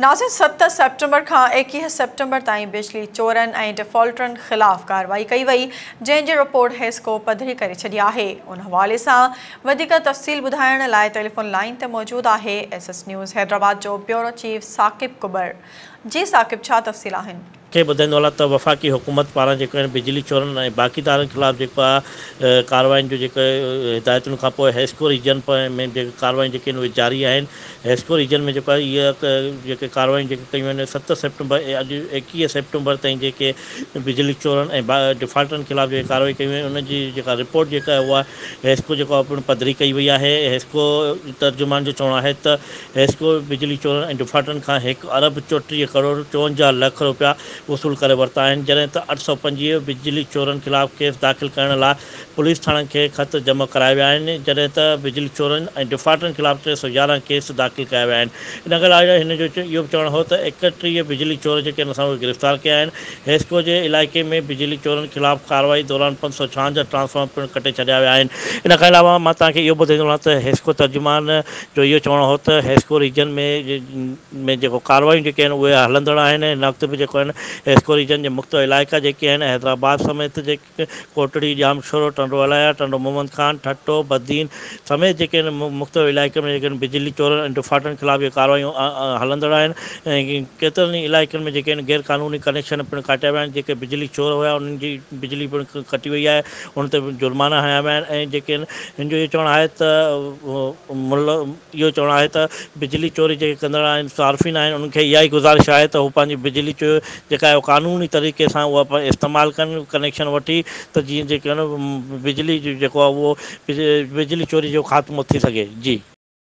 ناظرين ست سيپٽمبر کان ايڪيهه سيپٽمبر تائين بجلي چورن ۽ ڊفالٽرن خلاف ڪارروائي ڪئي وئي جنهن جي رپورٽ حيسڪو پڌري ڪري ڇڏي آهي ان حوالي سان وڌيڪ تفصيل ٻڌائڻ لاء ٽيليفون لائين تي موجود آهي ايس ايس نيوز حيدرآباد جو بيورو چيف ثاقب ڪٻر جي ثاقب ڇا تفصيل آهن. کي ٻڌائيندو هلان ته وفاقي حڪومت پاران جيڪو هن بجلي چورن ۽ باقي تارن خلاف جيڪو آ ڪاررواين جو جيڪو هدايتن کان پوء هيسڪو ريجن ۾ جيڪي ڪارروايون جيڪي آهن اهي جاري آهن هيسڪو ريجن ۾ جيڪو آهي اهي جيڪي ڪارروايون جيڪي ڪيون وينديون ست سيپٽمبر اڄ ايڪيهه سيپٽمبر تائين جيڪي بجلي چورن ۽ ڊفالٽرن خلاف جيڪي ڪارروايون ڪيون ويون ان جي جيڪا رپورٽ جيڪا اهو آهي هيسڪو جيڪو آهي پڻ پڌري ڪئي وئي آهي هيسڪو ترجمان جو چوڻ آهي ته ريسڪو بجلي چورن ۽ ڊفالٽرن کان هڪ ارب چوٽيهه ڪروڙ چونجاهه لک رپيا وصول ڪري ورتا آهن جڏهن ته اٺ سؤ پنجويهه بجلي چورن خلاف ڪيس داخل ڪرڻ لاء پوليس ٿاڻن کي خط جمع ڪرايا ويا آهن جڏهن ته بجلي چورن ۽ ڊفالٽرن خلاف ٽي سؤ يارهن ڪيس داخل ڪيا ويا آهن ان کان علاوه هن جو اهو به چوڻ هو ته ايڪٽيهه بجلي چور جيڪي ان سان اهي گرفتار ڪيا آهن ريسڪو جي علائقي ۾ بجلي چورن خلاف ڪارروائي دوران پنج سؤ ڇاهنجاهه ٽرانسفارمر پڻ ڪٽي ڇڏيا ويا آهن ان کان علاوه مان توهان کي اهو به ٻڌائيندو رهان ته ريسڪو ترجمان جو اهو چوڻو هو ته هيسڪو ريجن ۾ ۾ جيڪو ڪاروايون جيڪي آهن اهي هلندڙ آهن ۽ هن وقت به جيڪو آهن هيسڪو ريجن جي مختلف علائقا جيڪي آهن حيدرآباد سميت جيڪي ڪوٽڙي، ڄامشورو، ٽنڊو الايا، ٽنڊو محمد خان، ٺٽو، بدين سميت جيڪي آهن مختلف علائقن ۾ جيڪي آهن بجلي چورن ۽ ڊڦاٽن خلاف اهي ڪاروايون هلندڙ آهن ۽ ڪيترن ئي علائقن ۾ جيڪي آهن غيرقانوني ڪنيڪشن پڻ ڪاٽيا ويا آهن جيڪي بجلي چور هيا انهن جي بجلي پڻ ڪٽي وئي آهي هن تي جرمانا هنيا ويا آهن ۽ جيڪي هن جو اهو چوڻ آهي ته ملهه اهو چوڻ آهي ته بجلي چوري جيڪي ڪندڙ آهن صارفين آهن انهن کي اها ئي گذارش آهي ته هو پنهنجي بجلي چوري جيڪا آهي اها قانوني طريقي سان اها استعمال ڪن ڪنيڪشن وٺي ته جيئن جيڪي بجلي جي جيڪو آهي اهو بجلي چوري جو خاتمو ٿي سگهي جي.